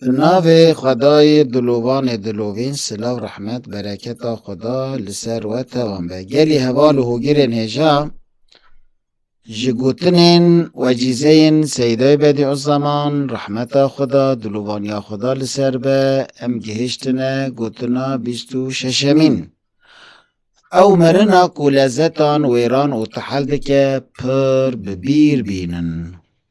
Bi navê Xwedayê dilovanê dilovîn silav rehmet bereketa Xweda li ser we tevan be. Gelî heval û hogirên hêja ji gotinên wecîzeyên Seyîdayê Bedîuzzeman rehmeta Xweda dilovaniya Xweda li ser be em gihiştine gotina bîst û şeşemîn. Ew mirina ku lezetan wêran û tehil dike pir bi bîr bînin.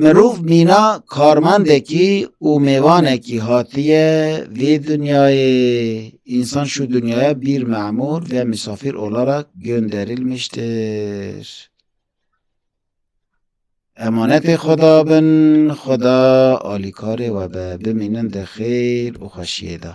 Mirov mîna karmendekî û mêvanekî hatiye vê dinyayê. Însan şû dinyaya bîr memûr ve misafîr olarak gönderilmiştir. Emanetê Xweda bin, Xweda alîkarê we be. Bimînin di xêr û xweşiyê de.